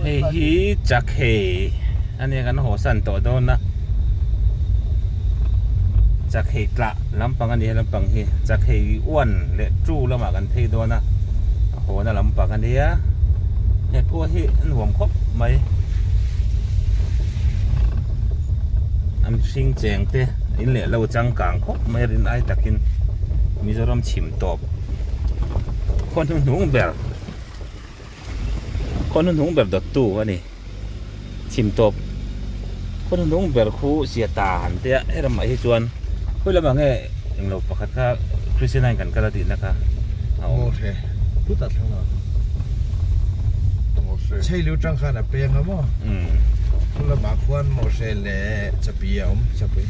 Hei hi chakhe a nia kan haw san tawh dawn a chakhe tlah lampang a ni he lampang hi chakhe uan leh ṭu lamah kan phei dawn a a hawna lampang a nia he khua hi a nuam khawp mai an hring cheng te in leh lo changkang khawp mai rin ai takin. Mizoram chhim tawp khaw hnu hnung ber khaw hnu hnung ber dawttu a ni chhim tawp khaw hnu hnung ber khu zia ta han tia he ramah hi chuan khawih lamah nge englo pakhat kha Christian a kan kal a tihna kha a awm hle put a thlang a Chheilu tangkhan a peng a maw khawlamah khuan Mawhre leh Chapi a awm Chapi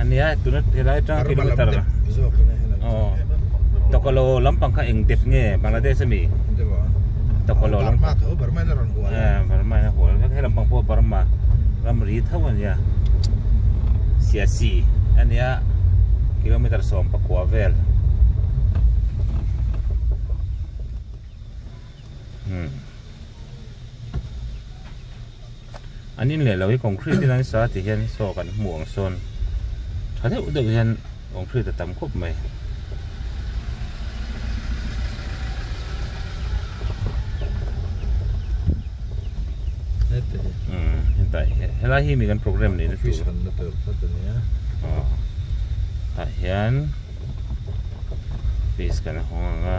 ania tuna helai atang kilometer aw tokalo lampang kha eng dep nge bangladesh ami tokalo lam ma tho barma na ron hual eh barma na hual ka helam pang po barma ram ri tho ania sia si ania kilometer som pakua vel hmm an in leh lo hi concrete in an sa tih hian saw kan hmu ang sawn tha deuh deuh hian concrete a tam khawp mai umm hetah hian helai hi mi kan program neih na tur aw tah hian office kan hawng ang a.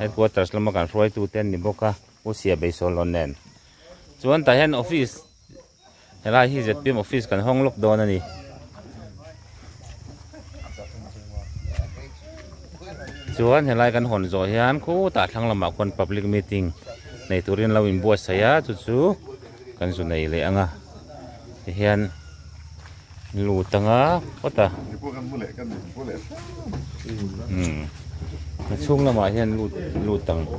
Headquarters lama kan hruaitute an ni bawk a, Pu Sia Beisawlawh nen. Chuan tah hian office, helai hi zpm office kan hawng lawk dawn a ni. Chuan helai kan hawn zawh hian khutah thlang lamah khuan public meeting nei turin an lo inbuatsaih a, chu chu kan zu nei leh ang a. Tihian. An lut anga pawt a umm a chhung lamah hian lut lut ang umm.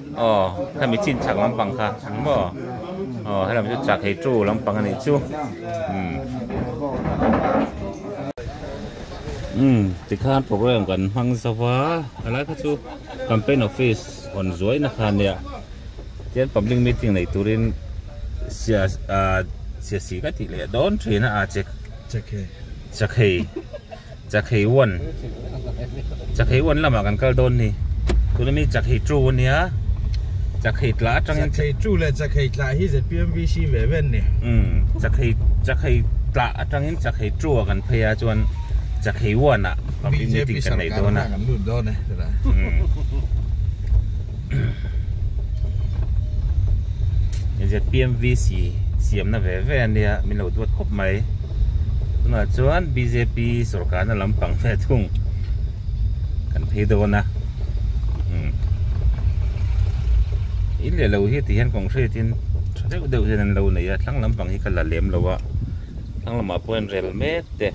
Aw, hemi chin chak lampang kha ang maw? Aw, helam chu chak hei chu lampang a nih chu. Umm. Umm, tikhan programme kan hmang zau va, a lai kha chu campaign office hawn zuaina kha nia, tichuan public meeting nei turin sia aah siasi ka tih leh dawn thin a, aah Chakei. Chakhei uan Chakhei uan lamah kan kal dawn ni tuna mi Chakhei ṭu a nia Chakhei tla aṭang in Chakhei ṭu leh Chakhei tla hi zpmvc ve ve an ni umm Chakhei Chakhei tla aṭang in Chakhei ṭu ah kan phei a chuan Chakhei uan ah public meeting kan neih dawn a kan lut dawn e tunah umm. ZPMVC siamna ve ve ania min lo duat khawp mai tunah chuan BJP sorkarna lampang ve thung kan phei dawn a hmm. in leh lo hi ti hian concrete in tha deuh deuh hian an lo nei a thlang lampang hi ka la lem lo a thlang lamah pawh hian rel mek te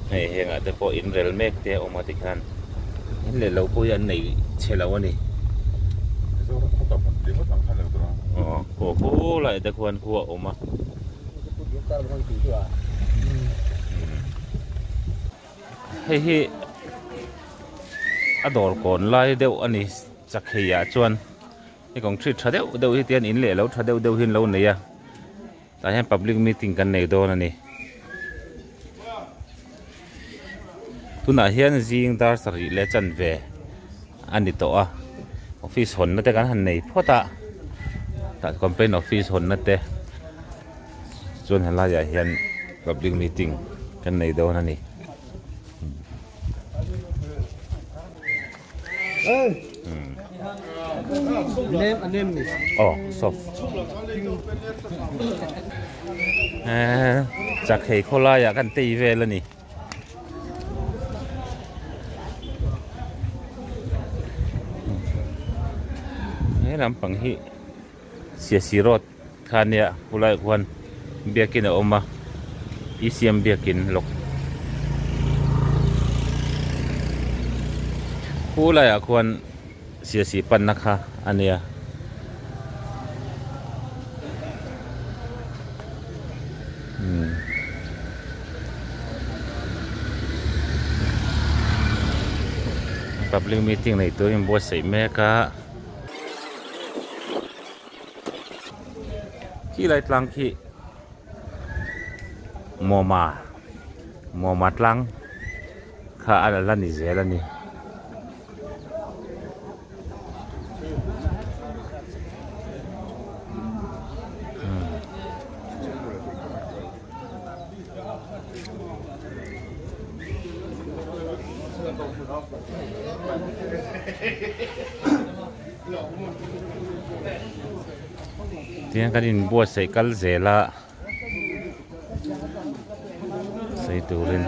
hei hengah te pawh inrel mek te a awm a tikhan in leh lo pawh hi an nei chhe lo a ni aw khuah kho laia te khuan khuah a awm a hei hi a dawr kawn lai deuh a ni chakheia chuan hei kawng chhit tha deuh deuh hi tian in leh lo tha deuh deuh hi an lo nei a. Tah hian public meeting kan nei dawn a ni. Tunah hian zing dar sarih leh chanve a ni tawh a. Office hawnna te kan han nei phawt a. Tah complaint office hawnna te chuan he laiah hian public meeting kan nei dawn a ni. Chakei khaw laiah kan tei vel a ni. He lampang hi Siasi road. Thla nia Kulai khuan biakin a awm a, i siam biakin lawk. Kulaiah khuan siasi panna kha a nia. Public meeting nei turin buatsaih mek a. Khi lai tlang khi mawma mawma tlang kha a la ni zel a ni. Tihian kan in buatsaih kal zel a, sawi turin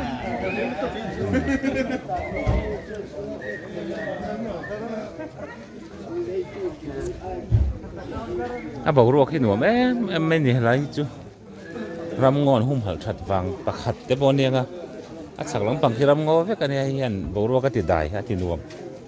a boruak hi nuam em em mai ni helai hi chu ramngawn humhalh that vang pakhat te pawh a ni anga a chhak lampang khi ramngaw vek a nia hei hian boruak a tidai a tinuam.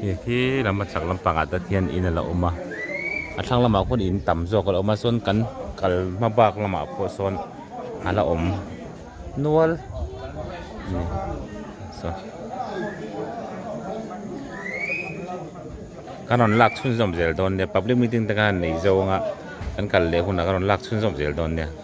hei hi lam a chak lampang ah tat hian in ala awm a a thlang lamah pawh in tam zawk ala awm a chuan kan kal hma bak lamah pawh sawn ala awm nual a ni tawh ka rawn lak chhunzawm zel dawn nia public meeting te ka han nei zawng a kan kal leh hunah ka rawn lak chhunzawm zel dawn nia.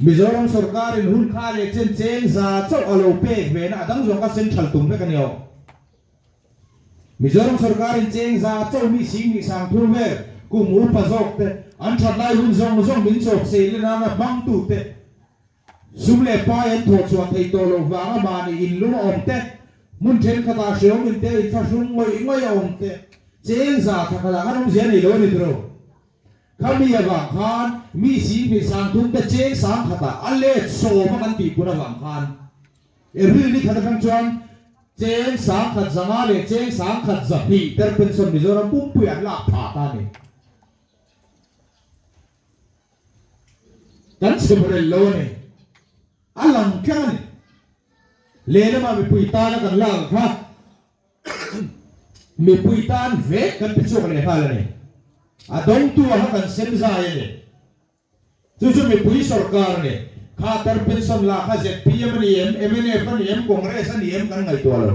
Mizoram sawrkarin hun kha leh chen cheng za chauh a lo pek ve na a dang zawk a, central tum vek a ni aw. Mizoram sawrkarin cheng za chauh mi sing mi sang thu vel, kum upa zawk te, an that lai hun zawng zawng min chawp sei le nana hmang tu te, sum leh pai an thawh chhuah thei tawh loh vang a mahni in lum a awm te, hmun thenkhat ah hreawm in te in thlahrung ngawih ngawih a awm te, cheng za thakhat ah khan awmzia nei lo a ni tawh lo. Khami avang khan mi sing phei sang thum te cheng sang khatah a let sawm a kan tih pun avang khan April ni khat atang chuan cheng sang khat zanga leh cheng sang khat za hlihter pension Mizoram pumpuia an lak tha ta ni. Kan chhep rel lo a ni. A lang thleng a ni. Lehlamah mipui tana kan lak ang kha. Mipui tan vek kan ti chhuak leh nghal a ni. A dawngtu a kha kan sem zai a ni. Chu chu mipui sorkar ni, khater pension lak kha zpm a ni em, mnf a ni em, congress a ni em kan ngaihtuah lo.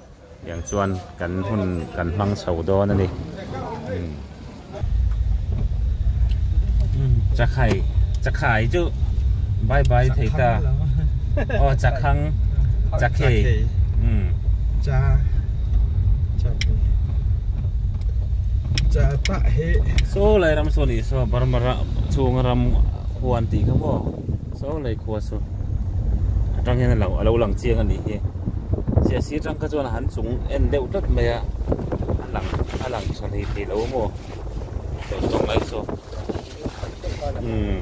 Tiang chuan kan hun kan hmang chho dawn a ni. Chakhai, Chakhai chu bye bye thei ta. Aw Chakhang, Chakhei. Cha, Chakhei. Cha ta he. Saw Lairam saw ni saw Barmara chhunga ram huan tih kha maw? Saw lei khua chu atang hian alo alo lang chiang a nih hi sia sir tang kha chuan a han chung en deuh tlat mai a a lang a lang tha hlei thei lo maw tawh zawk mai saw umm